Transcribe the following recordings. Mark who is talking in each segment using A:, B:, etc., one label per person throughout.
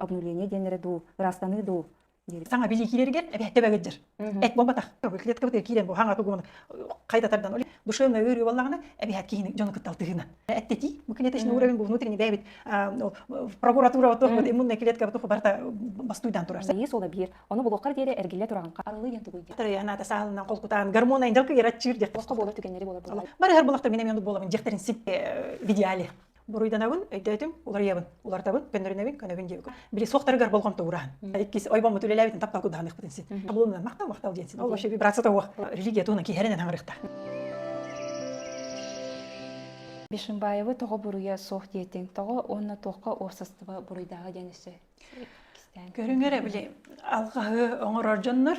A: обнуление диэннэрэ дуу, ыраастаныы дуу саҥа билиикилэригэр эбэттэ бэгэтдер эт буолбатах клетка быты киирэн бу хаҥата гон хайда тардан ол душевная өрүү боллагана эбэхат киһини дьону кыттал тыһына эттети бу кинетечный уровень бу внутренний дебит прокуратура вот иммунная клетка вот барта бастуйдан турар есть ол биир оны булуоххар диэри эргиллэ туран арылы ян тугуйде тараяната саалынан холкутаан гормона индалка ярачир дер боско болот түгеннери болар бары хар болохта минем боламын дехтерин сип видеале буруйданабын өйдөөтүм уларыйабын улартабын көннөрүнэбин көнөбүн диэбиккин били суохтарыгар болҕомто уураһын иккис ойбоммут үлэлээбитин таптал кудаһаныахпытын син табылымынан махтал махтал диэн син ол вообще вибрация тоох религия туунан киһэринэн хаҥырыхта Бишимбаевы тоҕо буруйа суох диэтиҥ тоҕо уонна туохха уопсастыба буруйдааҕы диэн өссө көрүҥэр эбили алҕаһы оҥорор дьоннор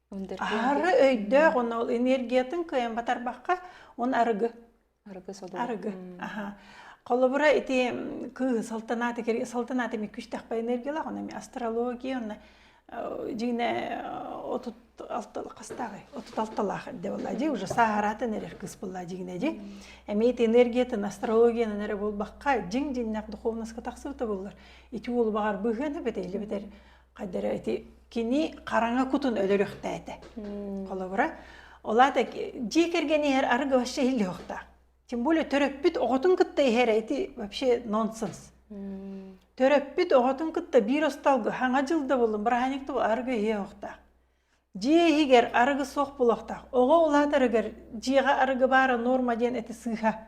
A: Аһары өйдөөх, оны ол энергиятын кыайан батарбакка, он арыгы. Арыгы содула. Арыгы. Аха. Холобура ити кыыс салтанааты кири салтанааты ми күштэхпе энергиялах оны ми астрология онна дьине отут алта хастағы отут алталах де болла ди уже сахаратын эрер кыс болла дигине ди эмиет энергиятын астрологияны эрэ болбакка дин диннак духовноска тахсыыта боллар ити ол багар быһыаны бетейле бетер хайда эрэ ити кини хараҥа кутун өлөрүөхтээтэ. Холобура, олаата дьиэ кэргэн иһэр арыгы вообще иһиллиэхтаах. Тем более төрөппүт оҕотун кытта иһэрэ ити вообще нонсенс. Төрөппүт оҕотун кытта биир остолго хаҥа дьыл да булун бырааһынньык тугу арыгы иһиэхтээх. Дьиэ иһигэр арыгы суох булуохтаах. Оҕо улаатарыгар дьиэҕэ арыгы баара норма диэн эти сыыха.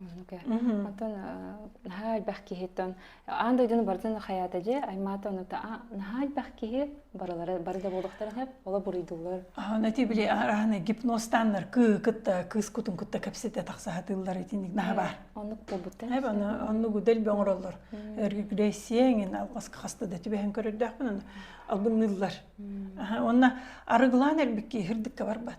A: Оттон наһаа элбэх киһиттэн аан дойдуну барытын хаyaата же аймаата онута наһаа элбэх киһи барылары бары да буолуохтарын хеп ола буруйдуулар. Ана ти биле аһарахана гипностаннар кы кытта кыыс кутун кутта кепсете тахсаатыыллар итинник наһаа бар. Оннук буолбута. Эп аны оннук удел бөңроллор. Регрессиеңин алқасқа хаста да түбэһэн көрөрдөөхпүн албынныыллар. Онна арыгылаан элбикки хирдикке барбат.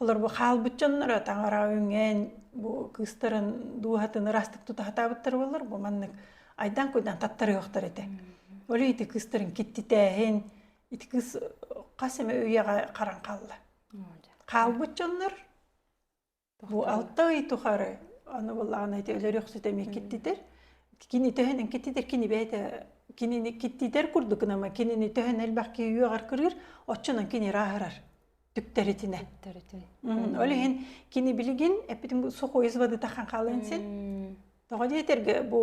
A: Олор бу хаалбыт дьонноро таҥараҕа үҥэн, бу кыыстарын дууһатын ыраастык тута сатаабыттар буоллар, бу маннык айдаан-куйдаан таттарыахтар этэ. Ол ити кыыстарын киттитээһин, ити кыыс хас эмэ үйэҕэ харан хаалла. Хаалбыт дьоннор бу алта ый тухары аны буллаҕына ити өлөр өхсүтэ эмиэ киттитэр. Кини төһөнөн киттитэр, кини бэйэтэ кинини киттитэр курдук гынама, кинини төһөнөн элбэх киһи үөҕэр кырыыр, оччонон кини ырааһырар. түптэритинэ ол иһин кини билигин эппитим сухоизводыта ханхалыын син тоҕо диэтэргэ бу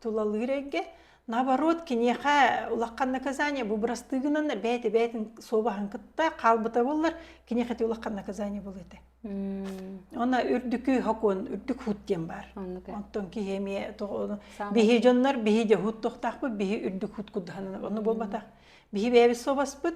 A: тулалыыр эйгэ наоборот киниэхэ улахан наказание бу бырастыгынан бэйти бэйтин суобаһын кытта хаалбыта боллар киниэхэти улахан наказание бұл ете онна үрдүкү хокон үрдүк хут диэн бар онтон киһи эмиэ биһи дьоннор биһи де хут тохтахпыт биһи үрдүк хут куддаханан ону болбатах биһи бэйэбит собаспыт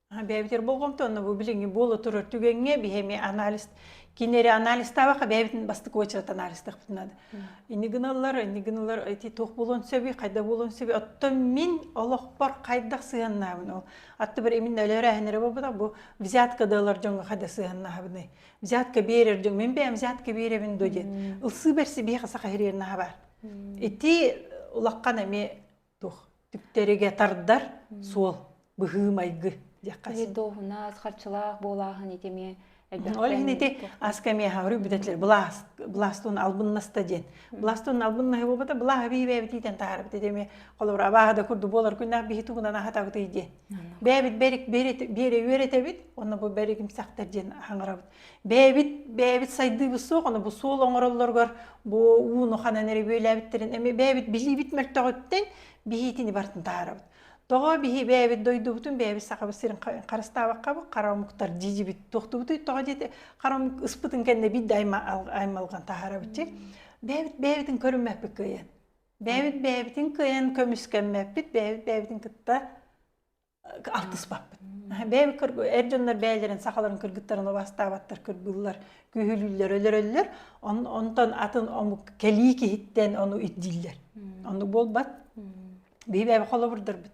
A: бэйэбитигэр болҕомто онно бу билиҥҥи буола турар түгэҥҥэ биһи эмиэ анализ кини эрэ анализтаабакка бэйэбитин бастык уочараттан анализтахпытын наада ини гыналлар ини гыналлар эти туох буолуон сөбүй хайда буолуон сөбүй оттон мин олохпор хайдах сыһыаннаабын ол атты бир имин өлөрөһөнөрө болбутак бу взятка дылар дьонго хайда сыһыаннаабыны взятка берер дьон мен бэйэм взятка беребин до диет ылсыы берси биха саха херернаха бар ити улаккан эми туох түптэригэ тардар суол быһыы-майгы диэххэ дууһунаас харчылаах буолааһын ити эмиэ ол иһин ити ас кэмиэхэ говорю бүтэтилэр былаас быластун албыннаста диэн быластун албыннаһы буолбата былаас бийбээбит иитэн таарбыт ити эмиэ холобура абааһы да курду буолар күннээх биһи тугунан аһатабытый диэн бээбит бэрик бере үөрэтэбит онно бу бэригим сахтар диэн аңарабыт бэйэбит бэйэбит сайдыыбыт суох аны бу суол оҥороллоругар бу ууну ханан эрэ бүөлээбиттэрин эми бэйэбит билиибит мөлтөҕүттэн биһиитини бартын таарабыт тоҕо биһи бэйэбит дойдубутун бэйэбит сахабыт сирин харыстаабаккабыт хара омуктар дьидьибит туохтубутуй тоҕо диэти хара омук ыспытын кэннэ бит да аймалган таарабытчы бэйэбит бэйэбитин көрүммэппит кыайан бэйэбит бэйэбитин кыайан көмүскэммэппит бэйэбит бэйэбитин кытта алтыспаппыт. Бэйэм эр дьоннор бэйэлэрин сахаларын кыргыттарын убастаабаттар кыргыллар, күһүлүүллэр, өлөрөллөр. Онтон атын омук кэлии киһиттэн ону ирдииллэр. Ону буолбат. Биһи бэйэбэ холобурдарбыт.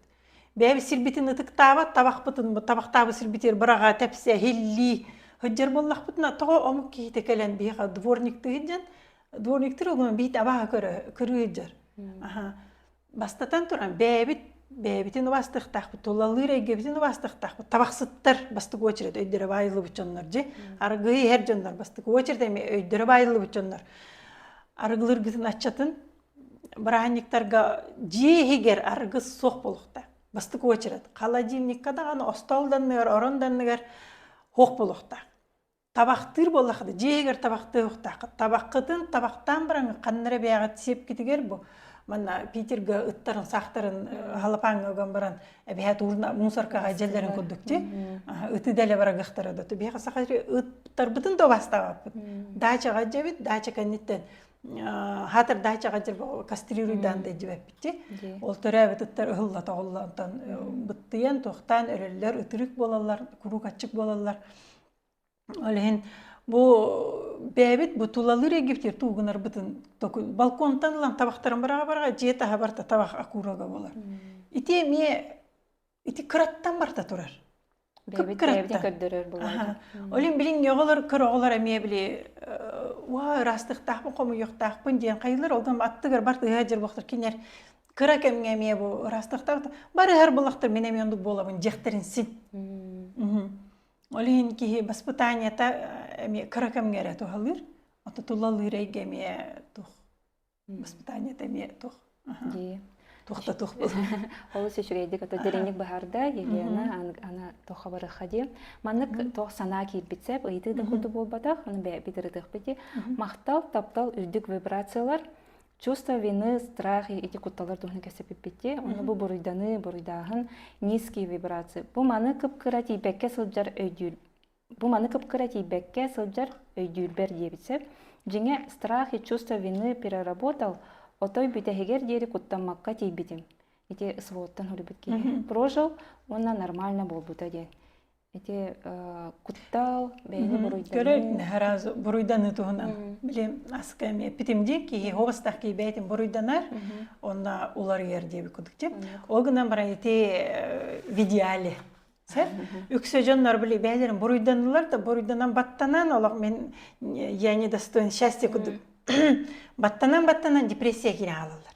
A: Бэйэбит сирбитин ытыктаабат, табахпытын табахтаабыт сирбитигэр быраҕа тэпсэ иһиллии сылдьар буоллахпытына тоҕо омук киһитэ кэлэн биһиэхэ дворниктыы сылдьан дворниктар олуон биһит абааһы көрө көрүү сылдьар. Бастатан туран, бэйэбит бэйэбитин убастыктаахпыт, тулалыыр эйгэбитин убастыктаахпыт. Табахсыттар бастакы очередь өйдөрө баайыллыбыт дьоннор дьи, аргыый иһэр дьоннор бастакы очередь эми өйдөрө баайыллыбыт дьоннор. Арыгылыргытын аччатын бырааһынньыктарга дьиэ иһигэр аргыс суох болуохта. Бастакы очередь. Холодильникка даҕаны остол данныгар, орон данныгар суох болуохта. табахтыыр буоллаххына дьиэгэр табахтыа суохтааххыт табаххытын табахтаан бараҥҥын ханнара бэйэҕит сиэпкитигэр бу манна питерга ыттарын саахтарын халапааҥҥа ыган баран эбэһээт уурна мусоркаҕа дьэллэрин курдук ти ыты дэлэ барагыхтара да тубиэха саха ыттарбытын да убастаабаппыт даачаҕа дьэбит даача кэнниттэн хаатар даачаҕа дьэ кастрирuyдаан дайдибэппитти ол төрөөбүт ыттар ыһылла тоҕулла онтон быттыйан туохтаан өлөллөр ытырык буолаллар куруук аччык буолаллар Ол иһин бу бэйэбит бу тулалыыр египтер туугунарбытын токул балконтан ылан табахтарын быраҕа быраҕа дьиэ таһа барта табах акурага буолар. Ити эмиэ ити кыраттан барта турар. Бэйэбит бэйэбитин көрдөрөр буолар. Олин билин йоголор көроголор эмиэ били уа ырастыктаахпын хомуйуктаахпын диэн хайылар олгам аттыгар бар тыһа жирбахтар кинер кыра кэмге эмиэ бу ырастыктаах барыһар булактар мен эмион буолабын дехтерин син. Ол иһин киһи баспытаанньата эмиэ кыра кэмҥэ эрэ туһалыыр, ото тулалыыр эйгэ эмиэ туох баспытаанньата эмиэ туох дии туох да туох буолар олус үчүгэйдик ото дириҥник баһарда Елена аны туха барыха дии маннык туох санаа киирбит сеп ыйытыы да курдук буолбатах аны бэйэбит ырытыахпыт дии махтал таптал үрдүк вибрациялар чувство вины, страх эти кутталар туһун кэсэпиппити, оны бу буруйданы, буруйдааһын, низкие вибрации. Бу маны кыпкыра тийбекке сылдьар өйдүүр. Бу маны кыпкыра тийбекке сылдьар өйдүүрбэр диэбитсеп. Дьиҥэ страх и чувство вины переработал отой бүтэһигэр диэри куттаммакка тиийбитим. Ити сводтан хүрбүт киһи прожил уонна нормально буолбута диэн. Ити куттал бэйэни буруйданыы. Көрө раз буруйданы туһунан. Билим аска эме питимди ки ховостах ки бейтим буруйданар. Онна уларыйар диэби кудуктеп. Ол гынан бара ити в идеале. Сэр үксө дьоннор били бэйэлэрин буруйданылар да буруйданан баттанан олох мен я не достоин счастья кудук баттанан баттанан депрессия кире хаалалар.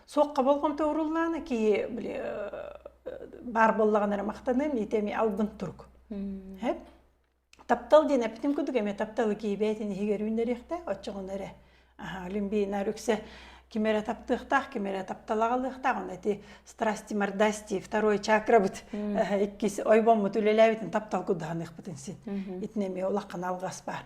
A: суохха болҕомто уруллаана киһи били баар боллаҕын эрэ махтаным ити эми албын турук хэп таптал диэн эптим кудук эме тапталы киибээтин иһигэр үүннэриэхтээх оччоҕуна эрэ олимпийинар үксэ ким эрэ таптыахтаах ким эрэ тапталаҕалыахтаах аны ити страсти мордасти второй чакрабыт иккис ойбоммут үлэлээбитин таптал куддаһаныахпытын син итинэми улаххан алгас баар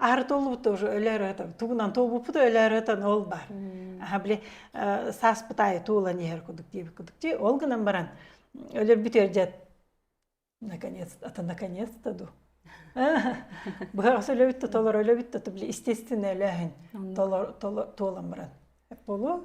A: Аһартоллубут тоже өлөөрөтөн, тугунан туолбуппут өлөөрөтөн ол бар. Аха били сааспыт аайы туолан иһэр кудук диэбит кудук дии. Ол гынан баран өлөрбүт өлөрдет наконец ата наконец-то ду. Быһаҕас өлөбүттө толор өлөбүттө то били естественно өлөһүн толор толон баран. Болу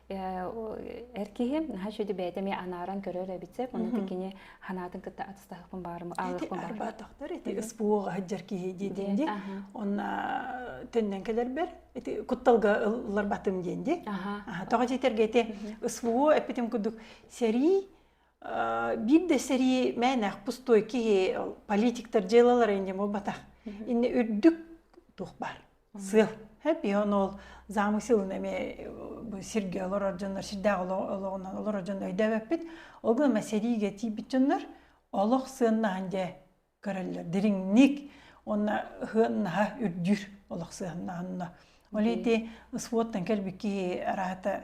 A: Эр киһим наһаа үчүгэй бэйэтэ ми анааран көрөр эбитсек оны кини ханаатын кытта атыстаһыппын баарым ааҕыппын баар арбаатахтар эти СПО-га сылдьар киһи диэтин ди онна төннөн кэлэрбэр эти кутталга ылларбатым диэн ди тоҕо диэтэргэ эти СПО эппитим курдук сэрии биир да сэрии мээнээх пустой киһи политиктар дьыалалара инде буолбатах инне үрдүк туох баар сыал эпион ол замысылын эмиэ сирге олорор дьоннор сирдээх олоҕунан олорор дьон өйдөөбөппүт ол гына сэриигэ тиийбит дьоннор олох сыаннаһан дьэ көрөллөр дириҥник уонна сыаннаһа үрдүүр олох сыаннаһанна ол ити спорттан кэлбит киһи араата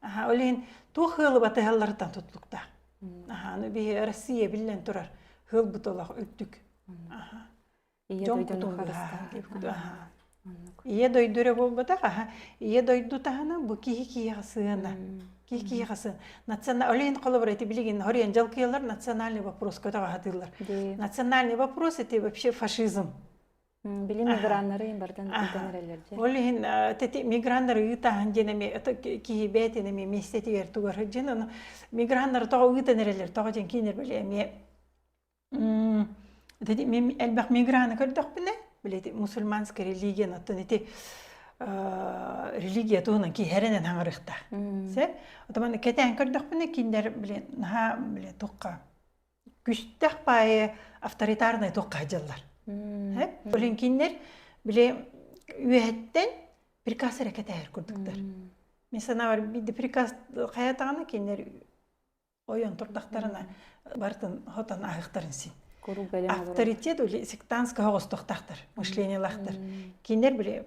A: Аха, ол иһин туох ыалы батыһалларыттан туттуктаах. Аха, аны биһи Россия биллэн турар хылбыт олох үрдүк. Аха. Ийэ дойдуну харыстаах. Ийэ дойду эрэ буолбатах, аха, ийэ дойду таһына бу киһи киһиэхэ сыана. Киһи киһиэхэ сыана. Национал олейн холобура эти билигин хорен жалкыялар национальный вопрос көтөҕө хатыыллар. Национальный вопрос это вообще фашизм. Били миграннары бартан тутан эрэллэр же. Ол иһин тити миграннар ыытаһан диэн эми киһи бээтин эми местетигэр тугар жин ону миграннар тоҕо ыытан эрэллэр тоҕо ден кинер биле эми тити мен элбэх миграны көрдөхпүнэ билети мусульманская религия оттон ити религия туһунан киһеренен хаңырыхта се отаманы кэтээн көрдөхпүнэ киндер билен наха биле тухха күстэх пае авторитарнай туохха дьыллар. Блинкиннер били үөһэттэн приказ эрэ кэтээһэр курдуктар. Мен санабар бийди приказ хаятааны киндер ойон турдахтарына бартын хотан ахыктарын син. Авторитет или сектантская оҕостохтахтар, мышлениялахтар. Киндер били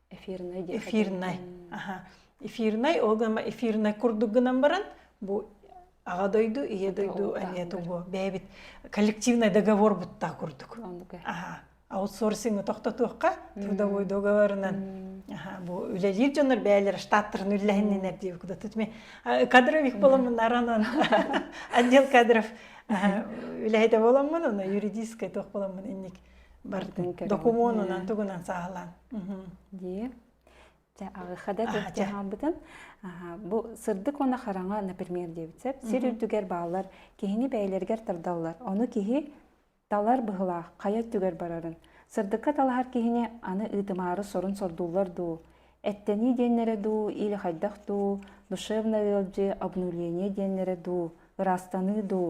A: эфирнай диэн эфирнай аха эфирнай ол гына эфирнай курдук гынан баран бу аҕа дойду ийэ дойду эмиэ тугу бэйэбит коллективный договор бутта курдук аха аутсорсингы тохтотуохха трудовой договорынан бу үлэлиир дьоннор бэйэлэр штаттарын үллэһиннинер диэб куда тут ме кадров их боломмуннаранан отдел кадров үлэһитэ боломмун уна юридическай туох боломмун инник бардын көрөн докумуонунан тугунан саалаан дии Дьэ, аҕыха да туһаабытын бу сырдык уона хараҥа например диэбит сөп сир үрдүгэр бааллар киһини бэйэлэригэр тардаллар ону киһи талар быһылаах хайа өттүгэр барарын сырдыкка талаһар киһини аны ыытымаары сорун сордууллар дуу эттэнии диэннэрэ дуу или хайдах дуу душевна ыалдьыы обнуление диэннэрэ дуу ыраастаныы дуу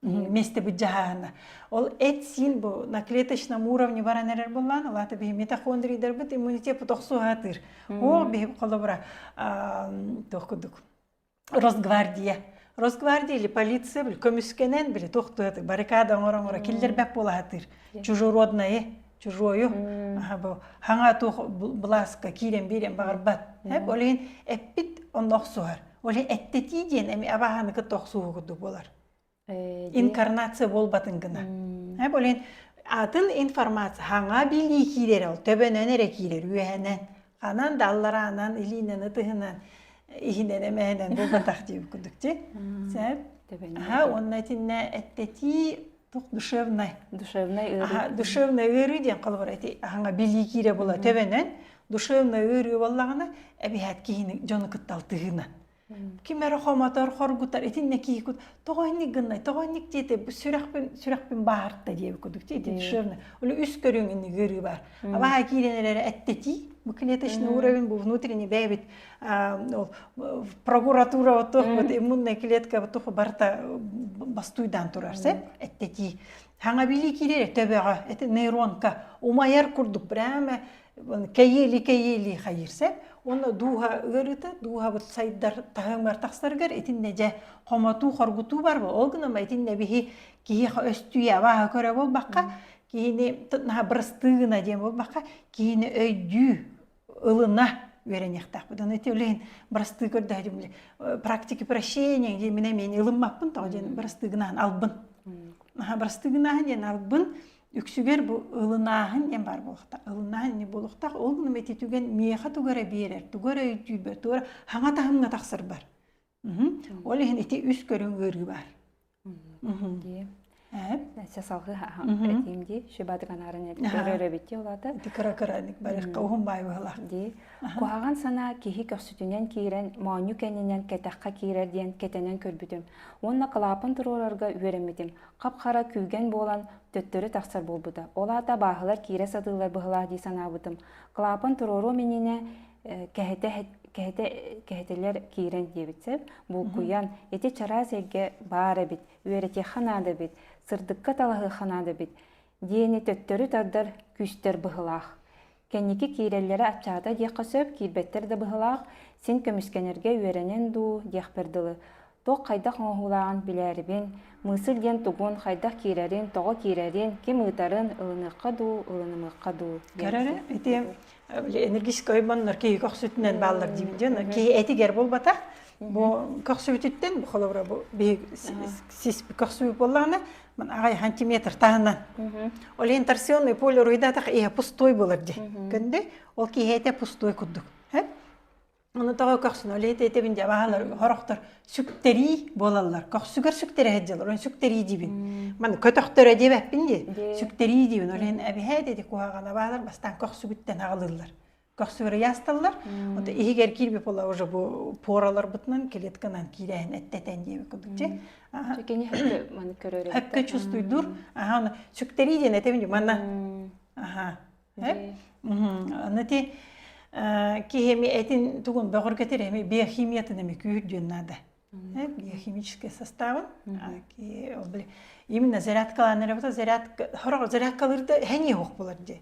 A: вместе быть дьаһаана. Ол эт-сиин бу на клеточном уровне баран эрэр буллаан, алаата биһи митохондрийдарбыт иммунитет тохсу аатыр. Ол биһи холобура туох кудук Росгвардия. Росгвардия или полиция били көмүскэнэн били тохтуат баррикада оңоро оңоро киллербэп болаатыр. Чужеродное чужою бу хаҥа туох былааска киирэн биирэн баҕарбат. Эп олин эппит онно охсуһар. Олин эттетии диэн эми абаһаны кытта охсууһу курдук болар. инкарнация буолбатын гына бу лин атын информация хаҥа билии киирэр ол төбөнөн эрэ киирэр үөһэнэн ханан да аллараанан илиинэн ытыһынан иһинэн эмэһэнэн буолбатах диир кудук ти сэп ха онна итиннэ эттэтии тух душевнай душевнай ыарыы душевнай ыарыы диэн холбор эти хаҥа билии киирэ була төбөнөн душевнай ыарыы боллагына эбиһэт киһини дьону кытталтыһына ким эрэ хомотор хоргутар итиннэ киһикут тоҕо инник гыннай тоҕо инник диэтэ сүрэхпин сүрэхпин бааһарта диэби курдук диэтэ душевный оле үс көрүҥ инник ыарыы бар абааһа киирэн эрэрэ эттэтии бу клеточный уровень бу внутренний бэйэбит ол прокуратура вот вот иммунная клетка туху барыта бастуйдан турар сеп эттэтии хаҥа билии киирэрэ төбөҕө это нейронка умайар курдук прямо кэйиэли-кэйиэли хайырсар уонна дууһа ыарыыта дууһабыт сайдар таһымар тахсарыгар итиннэ дьэ хомотуу хоргутуу бар ол гынан итиннэ биһи киһиэхэ өстүйэ абааһы көрө буолбакка киһини наһаа бырастыы гына диэн буолбакка киһини өйдүү ылына үөрэниэхтээхпит аны ити үлэһин бырастыы көрдөһө дим практики прощения диэн мин эмиэн ылыммаппын тоҕо диэн бырастыы гынаһын албын наһаа бырастыы гынаһын диэн албын үксүгэр бу ылынааһын диэн баар буолуохтаах ылынааһын ини буолуохтаах ол гына мэти түгэн миэхэ тугу эрэ биэрэр тугу эрэ өйдүүрбэр тугу эрэ хаҥа таһымҥа тахсарбар ол иһин ити үс көрүҥ ыарыы баар дии Сэ салхыһаһан этим ди шибатыганарын өрөбитти олата. Кыра кыра барыхка уһун байбылах. Ди. Куһаган сана киһи көхсүтүнен киирен, моонню кенинен кэтэххэ киирер диэн кэтенен көрбүтүм. Онна калапын турурарга үөрэммитим. хап-хара күүгэн буолан, төттөрү тахсар буолбута. Ол аата абааһылар киирэ сатыыллар быһылаах дии санаабытым. Клапан туруоруом иннинэ кэһэтэ кэһэтэ кэһэтэлэр киирэн диэбит сөп булкуйан ити чараас эйгэ баар эбит үөрэтиэххэ наада эбит сырдыкка талаһыахха наада эбит диэни төттөрү тардар күүстэр быһылаах. Кэнники киирэллэрэ аччаата диэххэ сөп, киирбэттэр да быһылаах, син көмүскэнэргэ үөрэнэн дуу, диэхпэр дылы. Туох хайдах оҥоһуулааҕын билээрибин, мыысыл диэн тугун, хайдах киирэрин, тоҕо киирэрин, ким ыытарын, ылыныахха дуу, ылынымыахха дуу. Кэрэрэ ити энергетическай ойбоннор киһи көхсүтүнэн бааллар диибит дьон киһи этигэр буолбата бу көхсүбүтүттэн холобура бу биһи сис көхсүбүт буоллаҕына ман аҕай сантиметр таһынан ориентационный поле руйдатах иһэ пустой болар ди көнде ол киһи этэ пустой курдук Аны тоҕо көхсүн ол этэбин дьэ баалар хорохтор сүктэрии буолаллар көхсүгэр сүктэрэ сылдьаллар оны сүктэрии дибин маны көтөхтөрө дебэппин дии сүктэрии дибин ол иһин эбиһээт эти куһаҕана баалар бастаан көхсүгүттэн аҕылыллар көхсүгэр ыйаасталлар вот иһигэр кирбип була уже бу пораларбытынан клетканан киирээһин эттэтэн диэби кылдык же кини хөпкө маны көрөрө хөпкө чувствуйдур аха оны сүктэрии диэн этебин манна аха Аны ти кихеми этин тугун бөҕөргөтөр эми биохимиятын эми күүр диэн наада. Биохимический составын именно зарядкалаан работа зарядка хороҕ зарядкалыырда хэньи ох булар ди.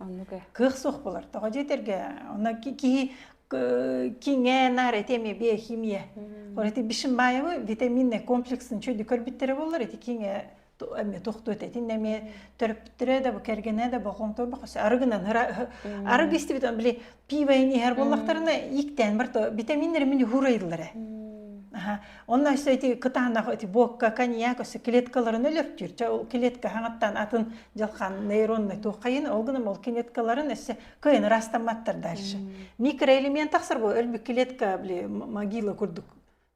A: Кыах суох булар. Тоҕо диэтерге она кихи киңэ нар этеми биохимия. Ити бишин баевы витаминный комплексын чөлү көрбүттэрэ болар эти киңе эмиэ тохтуот этин эмиэ төрөппүттэрэ да бу кэргэнэ да бохон торбохос арыгынан арыгы истибит он били пиво иһэр боллахтарына иктээн бар то витаминнер мини хурайыллара онно өссө эти кытаанах эти буокка коньяк өссө клеткаларын өлөртүр ча ол клетка хаҥаттан атын дьалхан нейронный туоххайын ол гынан ол клеткаларын өссө кыйын растамматтар дальше микроэлемент тахсар бу өлбү клетка били могила курдук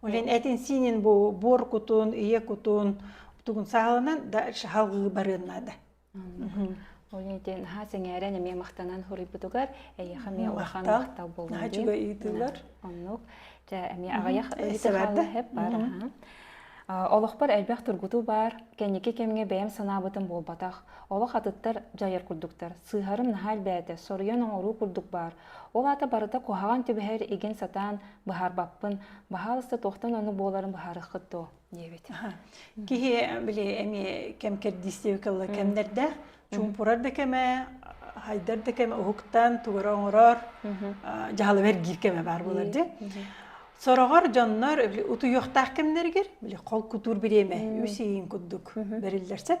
A: Улин этин синин бу буор кутун, ийэ кутун тугун саалынан да шаһалгы барыннада. Олин итин ха сеңээрен эмиэ махтанан хуруйбутугар эйеха миэ улахан махтал болмуйун. Наачуга ыйтылар. Оннук. Жа эмиэ аҕаях ытыхалла хеп бар. Олохпор элбэх тургуту бар, кэнники кэмге бэйэм санаабытым буолбатах. Олох атыттар дьайар курдуктар. Сыһарым наһа элбээтэ, соруйан оҥоруу курдук бар. Ол аата барыта куһаҕан түбэһэр игин сатаан быһаарбаппын, баһаалыста туохтан ону буоларын быһаарыххыт дуо? диэбит. Киһи били эми кэм кэрдиистиги кылла кэмнэрдээх чуумпурар да кэмэ, хайдар да кэмэ уһуктан тугара оҥорор дьаһалы бэргиир кэмэ баар болар дьэ. Сороҕор дьоннор утуйуохтаах кэмнэригэр били хол кутуур бириэмэ үс иин курдук бэриллэр сеп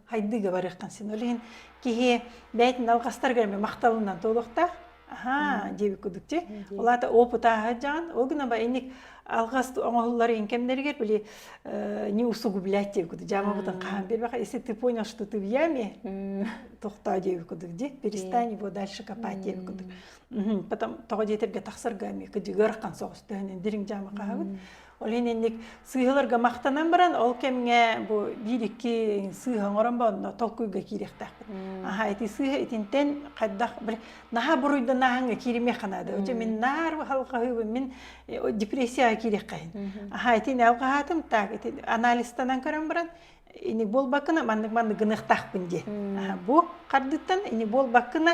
A: хайдыыга барыахтан син ол иһин киһи бэйэтин алҕастарыгар эмэ махталынан туолуохтаах аха диэбит курдук ти ол аата опыт ааһаджаан ол гына инник алгас оңоһуллар ин кэмнэригер били не усугублять диэбит курдук жаамабытын хаһан бербаха если ты понял что ты в яме тохтоо диэбит курдук ди перестань его дальше копать диэбит курдук потом тоҕо диэтэргэ тахсарга эмиэ кыдьыгар қан соҕус төһөнөн дириҥ жаама хаһабыт Ол иһин инник сыыһаларга махтанан баран ол кэмҥэ бу биир-икки сыыһа оҥорон бонно толкуйга киириэхтээхпит. Аһаа ити сыыһа итинтэн хайдах били наһаа буруйданаһыҥҥа кииримиэххэ наада. Оче мин наар балҕаһыыбын мин э, депрессияҕа киириэххэйин. Аһаа итини алҕаһаатым так ити анализтанан көрөн баран ини буолбакына маннык маннык гыныахтаахпын дии. Бу хардыттан ини буолбакына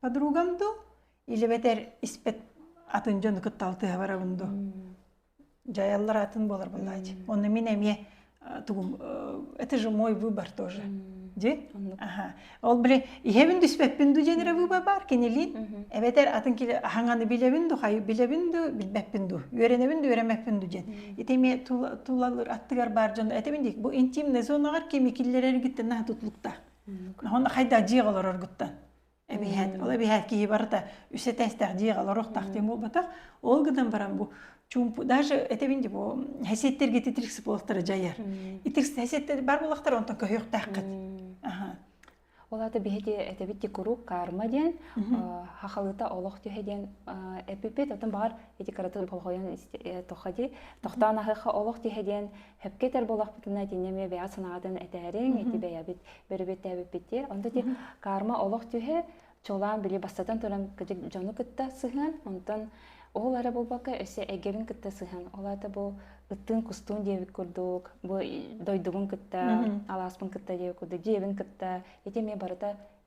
A: подругам дуу илебэтэр испэт атын дьону кытта алтыһа барабын дуу дьайаллар атын буолар буоллаачы онно мин эмиэ тугум это же мой выбор тоже ди ол били иһэбин түспэппин ду женере выбор бар кинилин эбэтер атын киле аһаҥаны билебин ду хай билебин ду билбеппин ду үөрэнебин ду үөрэмэппин ду ден ити ме тулалыр аттыгар бар дьон этебин дик бу интимный зонаҕар кими киллерер гиттен наха тутлукта он хайда жиғ олорор гуттан эбиһээт ол эбиһээт киһи барыта үс этээстээх дьиэҕэ олоруох тахтыым буолбатах ол гынан баран бу чумпу даже этэбин дии бу хасиэттэргэ титирик сыпылыктары дьайар итирс хасиэттэр бар буолахтар онтон көһүөхтээххит аха ол ата биһиги этэбит ти куруук карма диэн хахалыта олох түһэ диэн эпипит отон баар эти каратын холхойон тоха ди тохтаан ахыха олох түһэ диэн Хөпке төр буолахпытына итинне ме бэйа санаатын этээриҥ, ити бэйэбит бөрүбүттээбиппиттиэр. Онтон карма олох түһэ, чолаан били бастатан туран дьону кытта сыһыан, онтон ол ара буолбакка өсө эгерин кытта сыһан ол ата бу ыттын кустун диэбит курдук бу дойдугун кытта алааспын кытта диэбит курдук дьиэбин кытта ити ме барыта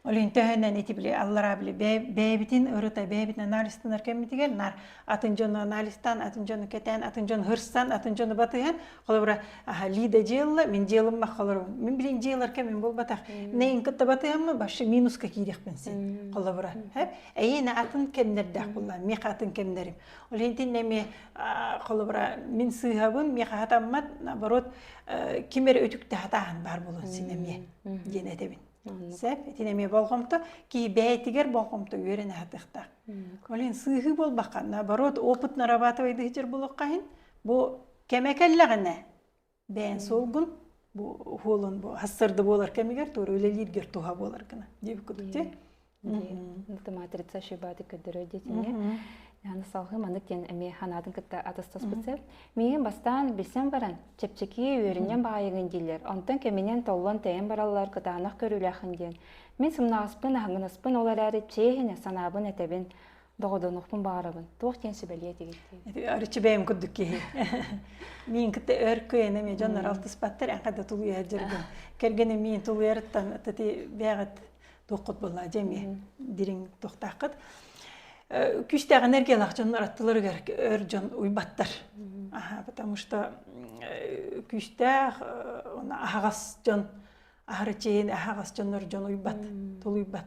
A: Олин төһөнөн ити били аллара били бэйэбитин ырыта бэйэбитин анализтанар кэммитигэр нар атын дьону анализтан атын дьону кэтэн атын дьону хырсан атын дьону батыһан холобура Лида дьыалла мин дьыалым мах холобура мин билин дьыалар кэмин болбатах нейн кытта батыһаммы башы минуска киирехпин син холобура хэп эйине атын кемнердэх булла мех атын кемнерим олин тиннеме холобура мин сыһабын мех хатаммат наоборот кимер өтүктэ хатаһын бар болон синеме диэн этэбин сөп итин эмиэ болҕомто кии бэйэтигэр болҕомто үөрэн аһатыахтаах олен сыыһыы буолбакка наоборот опыт нарабатывайдыы сытар булуохха иһин бу кэмэ кэллэҕинэ бэйэн суолгун бу уһуолун бу хастырды буолар кэмигэр туора үлэлииргэр туһа буолар гына диэбит кудук те матрица шибады көрдөрөр диэтине салхы маннык диэн эми ханаатын кытта атастаспыт сэл миигин бастаан билсэн баран чэпчэки үөрүннэн баайыгын дииллэр онтон кэминен толлон тэйэн бараллар кытаанах көрүүлэхин диэн мин сымнаҕаспын аһаҥынаспын ол эрээри чиэһинэ санаабын этэбин доҕодонухпун баарабын туох диэн сүбэлиэ тигиттиги арычы бэйэм курдук киһи мин кытта өр кыйыны ме дьоннор алтыспаттар әхадэ тулуйар жүргүн кэргени мин тулуйарыттан тати бэҕэт туоххут болла жеме дириң тохтаккыт күстәғін эргелах дьоннор аттыларыгар өр дьон уйбаттар потому что күстээх аһаҕас дьон аһарычейин аһаҕас дьоннор дьон уйбат тулуйбат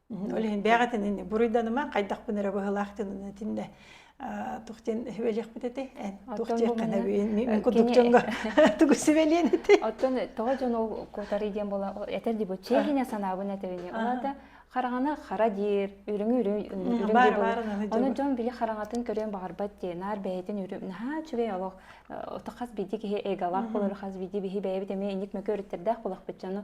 A: Ол иһин бэйэҕитин ини буруйданыма хайдахпын эрэ быһылаах гынын этинде тухтен хүбэлиэхпит эти эн тух диэккэне мин кудуктунга тугу сибэлиэн эти оттон тоҕо дьон ол кутары диэн була этер ди бу чехиня санаабын этебини олата хараҕана хара диир үрүҥ үрүҥ оны дьон били хараҥатын көрүөн баҕарбат дии наар бэйэтин үрүм наһаа үчүгэй олох ото хас биди киһи эйгалаах болор хас биди биһи бэйэбит эми инник мөкө өрүттердээх булахпыт дьону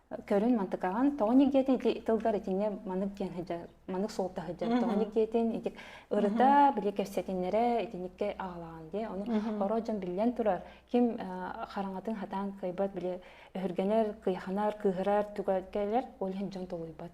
A: көрүн мантыкаҕын тоҕо нигиэтин ити тылгар итиннэ маннык диэн сыдьа маннык суолта сыдьа тоҕо нигиэтин итик ырыта били кэрсэтиннэрэ итиникке аҕалаан дии ону оро дьон биллэн турар ким хараҥатын хатаан кыйбат били өһүргэнэр кыйханар кыыһырар түгэтгэлэр ол иһин дьон толуйбат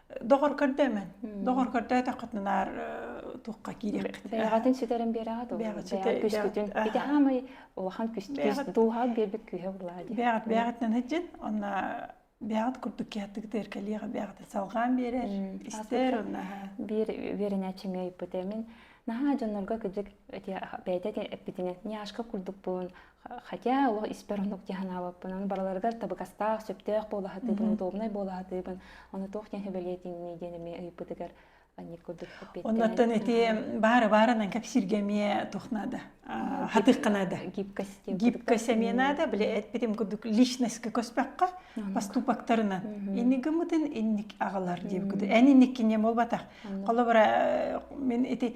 A: доҕор көрдөмөн доҕор көрдөөтөххүтүнаар тухха киириэххит бэйэҕитин сүтэрэн биэрэҕит бэйэҕит күскүтүн ити хаамай улахан күстүс дууһаҕыт биэрбит күүһэ булаа дии бэйэҕит бэйэҕиттэн һыдьын онно бэйэҕит курдук киһаттык тыыркалиэҕи бэйэҕит салҕаан биэрэр истэр онно биир үөрэнээччим ыйыппыт эмин наһаа дьоннорго кыдьык бэйэтэ эппитинэн няшка курдукпун Хотя олох испэр оннук дии санаабыппын. Аны барыларыгар табыгастаах, сөптөөх буолаһатыыбын, удобнай буолаһатыыбын. Ону туох диэн сөбүлээтиҥний диэн эмиэ ыйбытыгар анньык курдук Оннуттан ити баары баарынан кэпсииргэ эмиэ туох наада? Хатыахха наада. Гибкость эмиэ наада. Били этпитим курдук личностка көспөккө поступоктарынан иннигимытын инник аҕалар диэбит курдук. Эн инниккине буолбатах. Холобура мен ити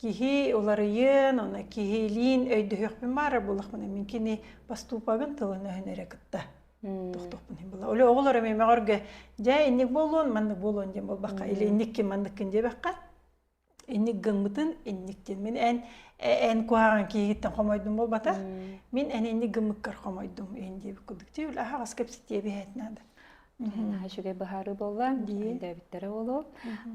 A: Киһи уларыйын, уна киһилиин өйдөһүөхпүн баара булахпын мин кини поступагын тылын өһөн эрэ кытта тохтохпун была оле оголор эми мегорге дьэ инник болон маннык болон дем болбакка или инникки манныккын дебекка инник гыммытын инниктин мин эн эн куһаҕан киһигиттен хомойдум болбата мин эн инник гыммыккар хомойдум ин диэбит курдук ти ул аһаҕас кэпситиэ биһэт надо наһаа үчүгэй быһаарыы буолла өйдөөбүттэрэ буолуо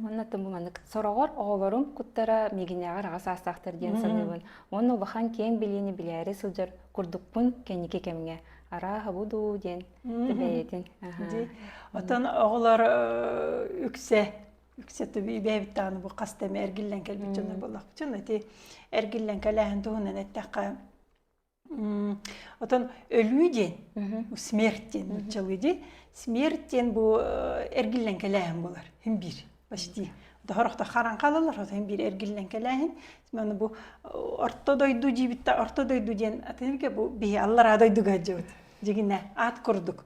A: уонна маннык сороҕор оҕолорум куттара миигинээҕэр аҕа саастаахтар диэн саныыбын уонна улахан киэҥ билиини билээри сылдьар курдукпун кэнники кэмҥэ арааһа бу дуу диэн бэйэтин оттон оҕолор үксэ үксэ бэйэбит даҕаны бу хас да эргиллэн кэлбит дьоннор буоллахпыт ити эргиллэн кэлээһин туһунан эттэххэ Отон өлүү диэн, смерть диэн нуччалыы дии. Смерть диэн бу эргиллэн кэлээһин болар. Хин биир почти. Дохорохто харан қалалар, отон биир эргиллэн кэлээһин. Мен бу орто дойду диибитте орто дойду диэн атынке бу бии аллара дойдуга жыбыт. Жигине ат курдук.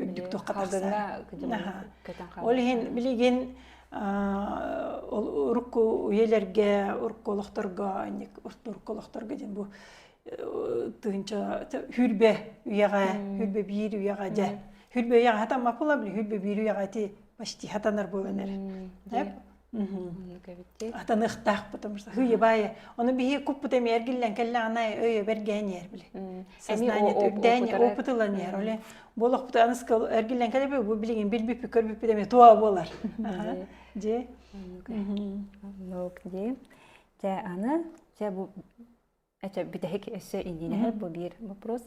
A: үрдүк туохха тахсар ол иһин билигин урукку үйэлэргэ урукку олохторго урукку олохторго диэн бу тыынча хүрбэ үйэҕэ хүрбэ биир үйэҕэ дьэ хүрбэ үйэҕэ хатан мапыла били хүрбэ биир үйэҕэ ти почти хатанар буоланар атаныахтаахпытым сыһыйыбаайа ону бии куппут эмиэр гиллэн кэллэҕинэ өйө бэргээн иэр били сознание үрдээн опыт ылан иэр оле болохпут аныскыл эргиллэн кэлэби бу билигин билбиппит көрбүппүт эмиэ туа буолар дьи нок ди те аны те бу это бүтэһик өссө индиинэһэр бу биир вопрос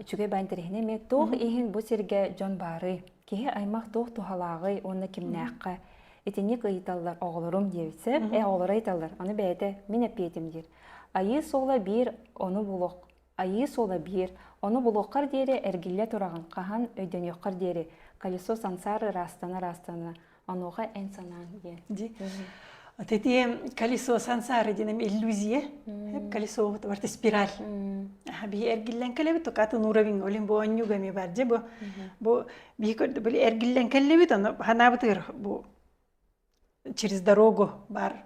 A: үчүгэй баа интэриэһинэ эмиэ туох иһин бу сиргэ дьон баарый киһи аймах туох туһалааҕый уонна кимнээххэ итинник ыйыталлар оҕолорум диэбитсэ э оҕолоро ыйыталлар аны бэйэтэ мин эппиэтим диир айыы суола биир ону булуох айыы суола биир ону булуоххар диэри эргиллэ тураҕын хаһан өйдөнүөххэр диэри колесо сансаар ыраастана ыраастана Онуоха эн санаан диэн. Ди. Тити колесо сансары динем иллюзия. Колесо вот барта спираль. Биһи эргиллэн кэлэбит, тукатын уровень олим бу оннюгами бар же бу бу биһи көрдө были эргиллэн кэллебит, аны ханабытыр бу через дорогу бар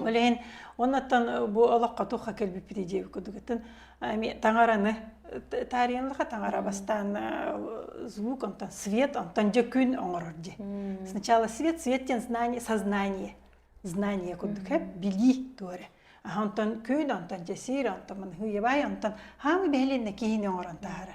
A: Ол иһин оннуттан бу олоххо тухха кэлбиппит дии кудугутун ами таҥараны таарыйынлыха таҥара бастаан звук онтон свет онтон же күн оңорор ди сначала свет свет тен знание сознание знание курдук хеп били туоре а онтон күн онтон же сир онтон манхыйабай онтон хаамы бэһилинне киһини оңорон таара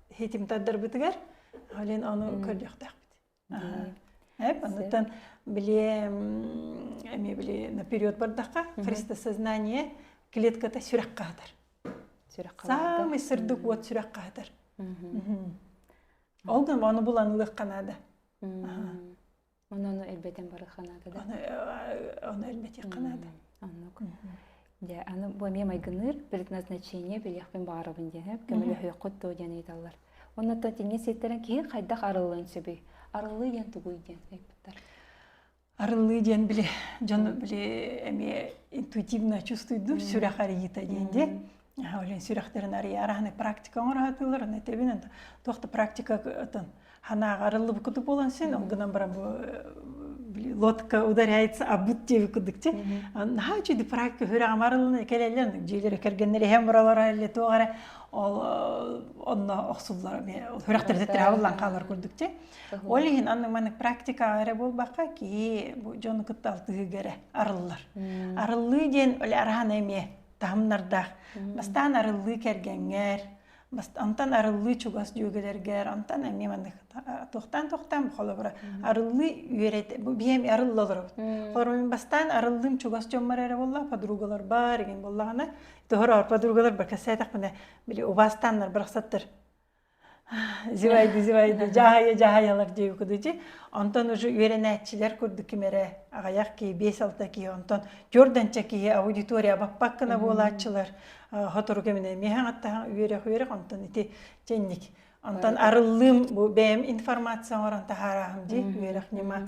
A: хитим тардарбытыгар блин ону көрдөхтөхпүт эп онуттан били эми били наперед бардахха христосознание клетката сүрэх хаатар сүрэх самый сырдык уот сүрэх хаатар ол гынан ону булан ылыахха наада Оны оны элбетен барыха наада да? Оны оны элбетихха наада. Оннук. Дьэ, аны бу эмиэ майгыныыр предназначение билиэхпин баарабын диэн көмөлөһүөххүт доо диэн ыйыталлар. Оннотто тинге ситтэрен киһи хайдах арыллыан сөбүй? Арыллыы диэн тугуй диэн ыйыппыттар. Арыллыы диэн били дьон били эмиэ интуитивно чувствуйдур сүрэх арыйыта диэн де Олен сүрэхтэрин арыйа араһаны практика оҥораһатылар, аны тэбинэн туох да практика ытын ханааҕа арыллыбыккыты буолан син ол гынан бара бу лодка ударяется обут диэби кудык те наһаа үчүдү практика хүрэҕим арыллына кэлэллэн дьиэлэри кэргэннэр эһэм буралара элле туох эрэ ол онно охсуллар хүрэхтэрде тырааллан хаалар курдук те ол иһин анны маны практика эрэ буолбакка киһи бу дьону кытта алтыһыга эрэ арыллар арыллыы диэн оле араһана эмиэ таһымнардаах. Бастаан арыллыы кэргэнгэр, онтон арыллыы чугас дьүөгэлэргэр, онтон эмиэ маннык туохтаан-туохтаан холобура арыллыы үөрэтэ бу биһиэм арылла олоробут. Холобур бастаан арыллыым чугас дьоммор эрэ буолла, подругалар баар игин буоллаҕына, тоһор подругалар бар кэсээтэхпинэ били убаастааннар барахсаттар зевайды зевайды дьаһайа дьаһайалар диэби кудучи онтон уже үөрэнээччилэр курдук ким эрэ аҕайах киһи биэс алта киһи онтон төрдөнчө киһи аудитория баппаккына буолааччылар хотору кэминэ миэхэҥаттаһан үөрэх үөрэх онтон ити чэнник онтон арыллыым бу бэйэм информация оҥорон таһаарааһым дии үөрэх ньыма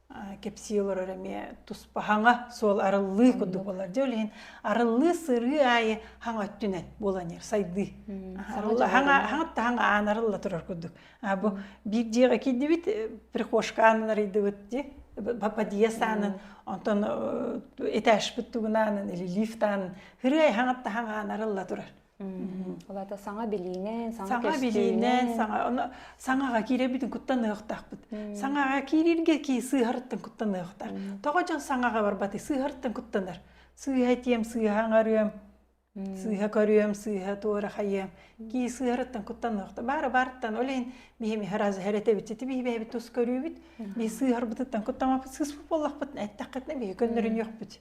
A: кэпсии олорор эмиэ туспа хаҥа суол арыллыы курдук болар дьэ ол иһин арыллыы сырыы аайы хаҥ өттүнэн буланиыр сайдыы хаҥатта хаҥ аан арылла турар курдук бу биир дьиэҕэ киирдибит прихожка аанын арыйдыбыт ди подъезд аанын онтон этажпыт тугун аанын или лифт аанын хырыай хаҥатта хаҥ аан арылла турар Ол ата саҥа билиинэн, саҥа билиинэн, саҥа ону саҥаҕа киирэрбитин куттаныахтаахпыт. Саҥаҕа киирэргэ кии сыыһарыттан куттаныахтаах. Тоҕо дьон саҥаҕа барбатый сыыһарыттан куттанар. Сыыһа этиэм, сыыһа аҥарыам, сыыһа көрүөм, сыыһа туорахайыам. Кии сыыһарыттан куттаныахта. Баара баартан олейн биһим иһэ раз эрэтэбит ити биһи бэйэбит тус көрүүбүт. Би сыыһарбытыттан куттамаппыт сыыспыт буоллахпыт эттэххитинэ биһи көннөрүн йохпут.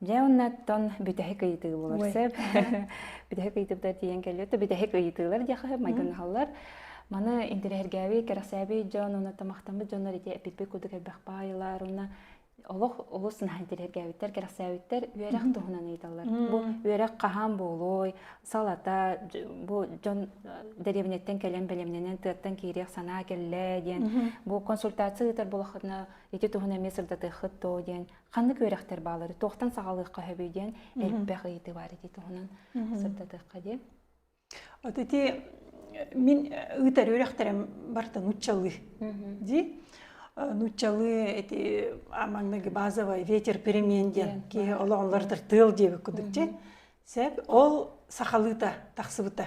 A: Дьэ оннуттан бүтэһик ыйытыы болар сөп. Бүтэһик ыйытыыта тиийэн кэллиэ, то бүтэһик ыйытыылар диэхэ майгынаһаллар. Маны интириһэргээби, кэрэхсээби дьон уна тамахтаммыт дьоннор ити эпиппи кудук элбэх баайылар уна олох олус наһаа интириһэргээбиттэр, кэрэхсээбиттэр үөрэх туһунан ыйталлар. Бу үөрэх хаһаан буолуой, салата бу дьон деревняттан кэлэн бэлэмнэнэн тыаттан киириэх санаа келлэ диэн бу консультация ыытар болохына ити туһунан эмиэ сырдатыаххыт то диэн ханнык үөрэхтэр баалары туохтан саҕалыахха сөбүй диэн элбэх ыйытыы баар ити туһунан сырдатыахха диye Вот эти мин ыытар үөрэхтэрим барта нуччалы ди нуччалы эти амаңныгы базовый ветер перемен диэн киһи олоҕунлардар тыыл диэбит кудукчи сеп ол сахалыыта тахсыбыта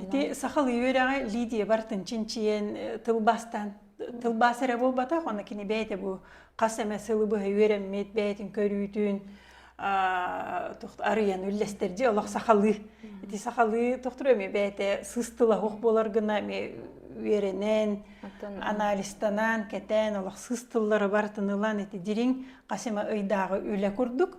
A: Ити сахалыы үөрэҕи Лидия тынчинчиен э, тылбастан тылбас эрэ буолбатах, оны кини бэйте бу хас эмэ сылы быһа үөрэммит, бэйтин көрүүтүн тохт арыйан үллэстерди олох сахалыы. Ити сахалыы тохтуру эми бэйте сыстылаһох болар гына эми үөрэнэн, анализтанан, кэтэн олох сыстыллары бар тынылан ити дириҥ хасыма ыйдагы үлэ курдук.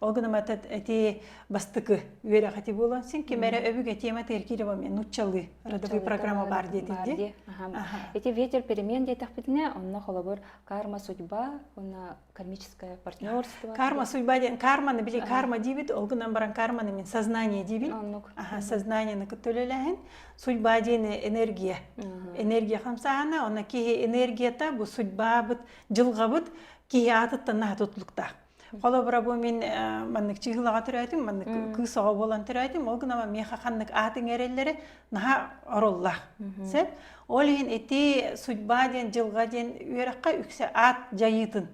A: Ол гынан батат эти бастыкы үөрэхэти буолан син кимере өбүгэ тема теркирева нуччалы родовой программа бар диетилде. Эти ветер перемен диэтахпитине, онно холобур карма судьба, онна кармическое партнерство. Карма судьба ден карманы били карма дибит, ол гынан баран карманы мен сознание дибин. Ага, сознание на кытөлеләһен. Судьба дені энергия. Энергия хамсаана, онна кихи энергията бу судьба быт, жылга быт, кихи атыттан нахат утлукта. Холобура бу мин маннык чыыһылаҕа төрөөтүм, маннык кыыс оҕо буолан төрөөтүм, ол гынан миэхэ ханнык аатын эрэллэрэ наһаа ороллоох. Сөп? Ол иһин ити судьба диэн дьылҕа диэн үөрэххэ үксэ аат дьайыытын.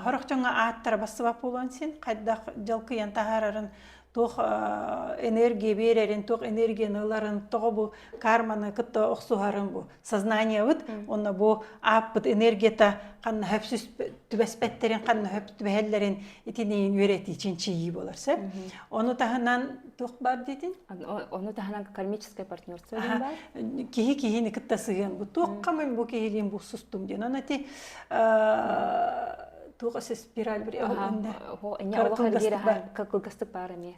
A: Хорохчоҥҥо ааттара бассабап буолуон син хайдах дьалкыйан таһаарарын туох энергия биэрэрин, туох энергияны ыларын, тоҕо бу карманы кытта охсуһарын бу сознаниебыт онно бу ааппыт энергията ханнаһып түбэспеттерин ханнаһып түбэһэллэрин итинийин үөрэтии чинчийии болар сеп ону таһынан тух бар дитин ону таһынан кармическое партнерство бар киһи киһини кытта сыһыан бу туох камын бу киһилин бу сустум ден оно ти туоха спираль бир кылгастык бар эми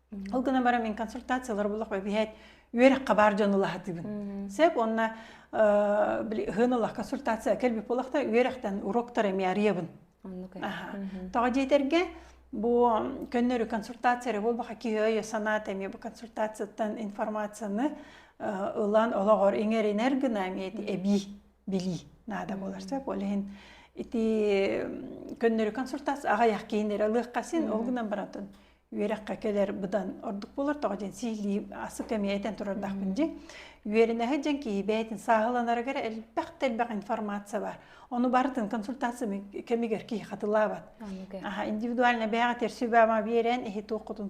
A: Ол гынан баран мин консультациялар булах бэбиһэт үөрөххэ баар дьон ылаһатыбын. Сеп онна һын ылах консультация кэлбип олахта үөрөхтен уроктар эми ариябын. Тоҕо диэтерге бу көннөрү консультация болбаха киһөйө санаат эми бу консультацияттан информацияны ылан олоҕор иҥеринер гына эми эби били наада болар сеп олehen ити көннөрү консультация ағаяқ кейінер алыхқа син ол гынан баратын үөрэххэ кэлэр быдан ордук буолар тоҕо диэн сиилии асык эмиэ этэн турардахпын дии үөрэнэһэ дьэн киһи бэйэтин сааһыланарыгар элбэх да элбэх информация бар ону барытын консультация кэмигэр киһи хатылаабат аха индивидуально бэйэҕэ терсибама биэрэн иһи туоххутун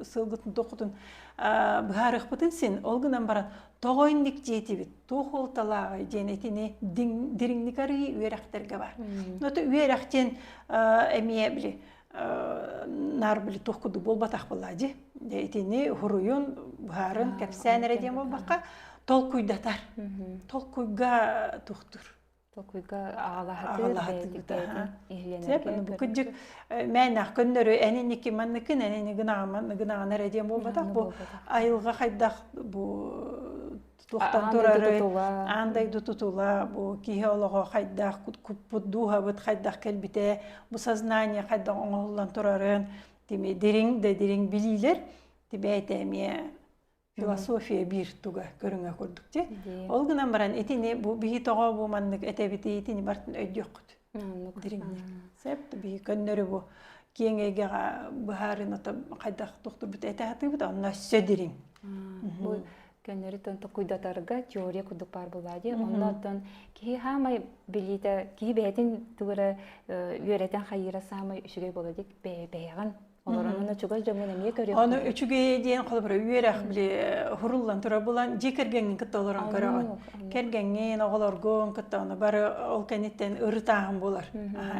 A: сылгытын туоххутун быһаарыахпытын син ол гынан баран тоҕо инник диэтибит туох уолталааҕый диэн этини дириҥник арыы үөрэхтэргэ бар но үөрэх диэн эмиэ били наар били туох кудук буолбатах буолла ди итини хуруйун быһарын кэпсээн эрэ диэн буолбакка толкуйдатар толкуйга тухтур толкуйга агалаһатыгыта бу кыдык мээнах көннөрү эниники манныкын энини гынаҕан гынаҕан эрэ диэн буолбатах бу айылга хайдах бу туохтан турары аан дойду тутула бу киһи олоҕо хайдах куппут дууһабыт хайдах кэлбитэ бу сознание хайдах оҥоһуллан турарын тими дириҥ да дириҥ билиилэр тибээте эмиэ философия биир туга көрүҥэ курдук те ол гынан баран итини бу биһи тоҕо бу маннык этэбити итини бартын өйдүөххүт Сеп биһи көннөрү бу киэң эйгэҕэ быһаарыныта хайдах тохтурбут этэ атыыбыт онно өссө дириҥ. Бу көннөрүтөн токуйдатарга теория кудук пар була ди оннотон киһи хаамай билиите киһи бэһэтин тугара үөрэтэн хайыра саамай үчүгэй бола дик бэйэҕин Олорон аны чугай дьомун эмиэ көрүөх. Аны үчүгэй диэн холбора үөрэх били хуруллан тура булан дьи кэргэңин кытта олорон көрөҕүн. Кэргэңин, оҕолоргун кытта оны бары ол кэнниттэн ырытааһын булар.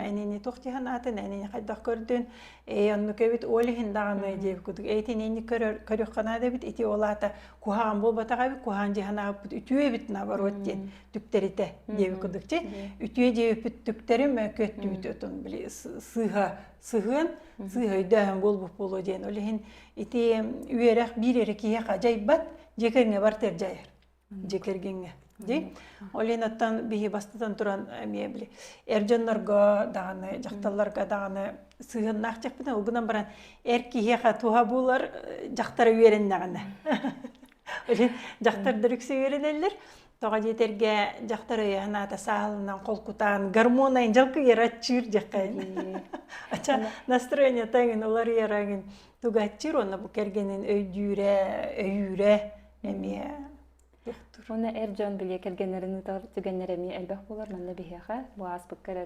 A: Энини туох тиһан атын энини хайдах көрдүн. Ээ онну кэбит ол иһин даҕаны диэбит кудук эйтинени көрүөх канада бит ити олата куһаан болбатаҕа бит куһаан диханааппыт үтүө бит наоборот диэн түптэрите диэбит кудукчи. Үтүө диэбит түптэрим көттүүтүтун били сыыха сыһыан сыыһайдөөһөн буолбут буолуо диэн ол иһин ити үөрэх биир эрэ киһиэхэ дьайбат дьиэ кэргэҥҥэ бартыар дьайар дьиэ кэргэҥҥэ ди ол иһин оттон биһи бастатан туран эмиэ били эр дьоннорго даҕаны дьахталларга даҕаны сыһыаннаах дьахпытын ол гынан баран эр киһиэхэ туһа буолар дьахтара үөрэннэҕинэ дьахтардар үксэ үөрэнэллэр тоҕо диэтэргэ дьахтар өйө санаата саалынан холкутаан гормонайын жалкыйыра аччыыр дьэххэ ача настроенията эҥин уларыйара эҥин тугааччыыр уонна бу кэргэнин өйдүүрэ өйүүрэ эмиэ Уна эр дьон билиэ кэргэннэрин ыытар түгэннэр эмиэ элбэх буолар манна биһиэхэ бу ааспыкка эрэ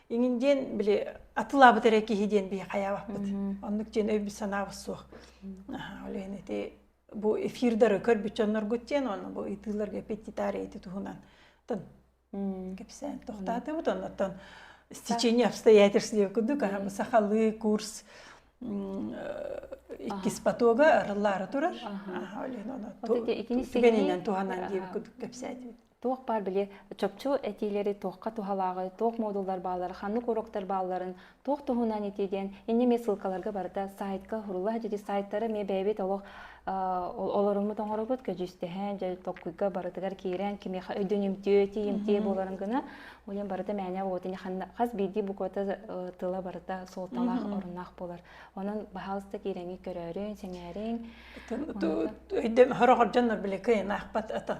A: иҥин диэн били атылаабыт эрэ киһи диэн би хаябаппыт оннук диэн өйбүт санаабыт суох олен ити бу эфирдары көрбүт дьонноргут диэн оны бу ытыыларга петтитар эти туһунан тын кепсään тохтаатыбыт оннотон стечение обстоятельств диye кудук арабы сахалыы курс иккис потога арыллаары турар олен оны итининен туһанан диэбит кудук кепсээтибит туох баар били чопчу этиилэри туохха туһалааҕы, туох модуллар бааллар, ханнык уроктар баалларын, туох туһунан этии диэн инни эмиэ ссылкаларга барыта сайтка уһурулла садьыди сайттара эмиэ бэйэбит олох олоруммут оҥоробут көдьүүстэһэн дьэ токкуйга барытыгар киирэн кимиэхэ өйдөнүмтүө этиимтиэ буоларын гына болен барыта мээнэ вот ини хас биирдии буквата тыла барыта суолталаах оруннаах болар онон баһаалыста киирэҥи көрөөрүн сэҥээриҥ өйдөм хороҕордоннор биле кыйнаахпат ата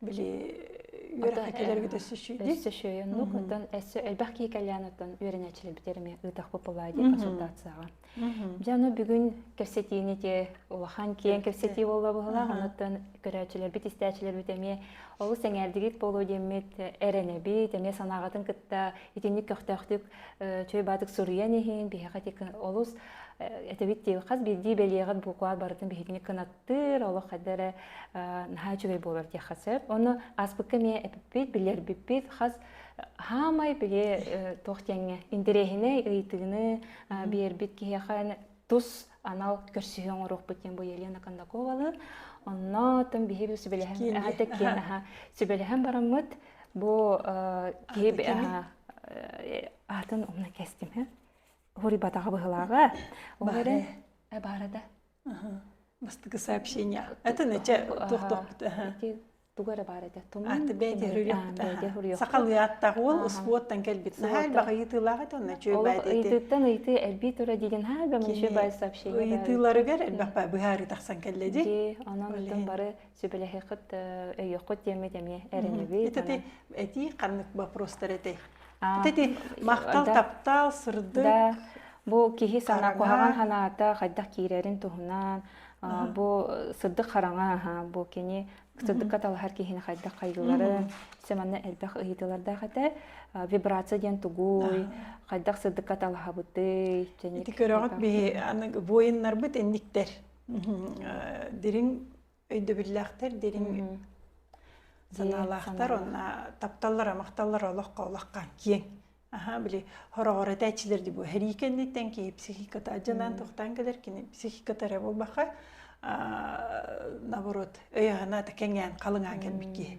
A: били үөрэтээччилэргит өссөшүйдей өссөшүйө ну оттон эссе элбэх кии кальяныттан үөрэнээччилэрбитигэр эмиэ ыытахпыт бобаа дии консультацияга дьэ аны бүгүн кэпсэтиини те улахан киэҥ кэпсэтии болла быһылаах онуттан көрөөччүлэрбит истээччилэрбит эмиэ олус эҥээрдигит буолуо диэммит эрэнэбит эмиэ санааҕытын кытта итинник көхтөөхтүк чөй баатык суруйан иһин биһиэхэ олус этэбит диир хас биирдии бэлиэҕит букваар барытын биһитиник кынат Тыр олох хадара наһаа үчүгэй буолар диэххэ сөп. Оны аспыкка ме эппит, билэрбиппит хас хаамай биле тох теңе интересіне ыйтыыны бербит киһиэхэ тус анал көрсүһү оҥоруохпут диэн бу Елена Кондаковалы онно тым биһиги сүбэлэһэн аха теккен аха сүбэлэһэн бараммыт бу киһи атын умна кестиме хури батаға быһылаға баара да бастакы сообщение это наче туохтохпут туга эрэ баар этэ тумун бэйдиэ хуруйуохпут сахалыы ааттаах уол успуоттан кэлбит наһаа элбэх ыйытыылаах этэ онно чүөбэйт эти ыйтыттан ыйытыы элбиит ура диген haa бөмүчү бай сообщение ыйытыыларыгар элбэх быһаарыы тахсан кэллэ ди онон бары сүбэлэһиэххит өйүөххүт диэммит эмиэ эрэнэбит итити этии ханнык вопростар этэй итити махтал таптаал сырдык бу киһи санаа куһаҕан санаата хайдах киирэрин туһунан бу сырдык хараҥа бу кини сырдыкка талаһар киһини хайдах хайгыларын сэ манна элбэх ыйытыылардаах этэ вибрация диэн тугуй хайдах сырдыкка талаһабытый ити көрөҕүт биһи воиннарбыт инниктэр дириҥ өйдөбүллээхтэр дириҥ санаалаахтар онна тапталлара махталлара олоххо олохха киэҥ аха били хороҕор этээччилэр дии бу хэрии кэнниттэн киһи психиката адьанан тухтаан кэлэр кини психиката эрэ буолбаха наоборот өйөһүнэ кэҥээн халыҥаан кэлбит киһи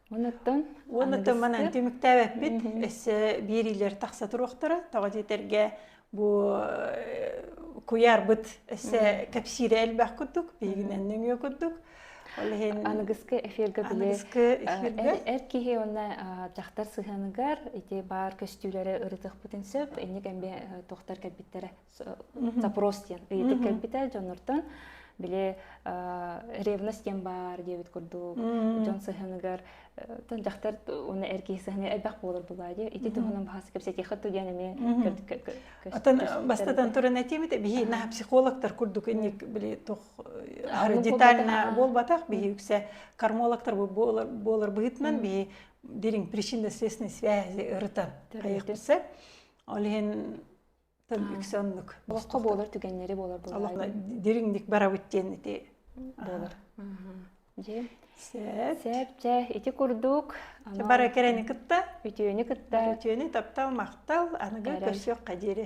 A: Уоннаттан Уоннаттан манан түмүктээбэппит. Эссе биириилэр тахса туруохтара. Тоҕо диэтэргэ бу куйаарбыт эссе кэпсиирэ элбэх курдук, биһигинэн нөҥүө курдук. Ол иһин аныгыскы эфиргэ били эр киһи уонна дьахтар сыһыаныгар ити баар көстүүлэрэ ырытыахпытын сөп инник эмбэ тохтар кэлбиттэрэ запрос диэн ыйытык кэлбитэ дьоннортон били ревность диэн баар диэбит курдук дьон сыһыаныгар тон дьахтар уна эр киһи сыһыаны элбэх буолар булаа диэ ити туһунан баһас кэпсэтиэхэ ту диэн эмиэ отон бастатан туран этиэмит биһи на психологтар курдук инник били тох детально буолбатах биһи үксэ кормологтар буолар быһытынан биһи дириҥ причинно-следственной связи ырытан хайыхпысы ол иһин үксэ оннук олоххо буолар түгэннэри буолар олохно дириҥник барабыт диэн ити буолар дьэ сээп дьэ ити курдук бара кэрэни кытта үтүөнү кытта үтүөнү таптал махтал аныгы көрсүөххэ диэри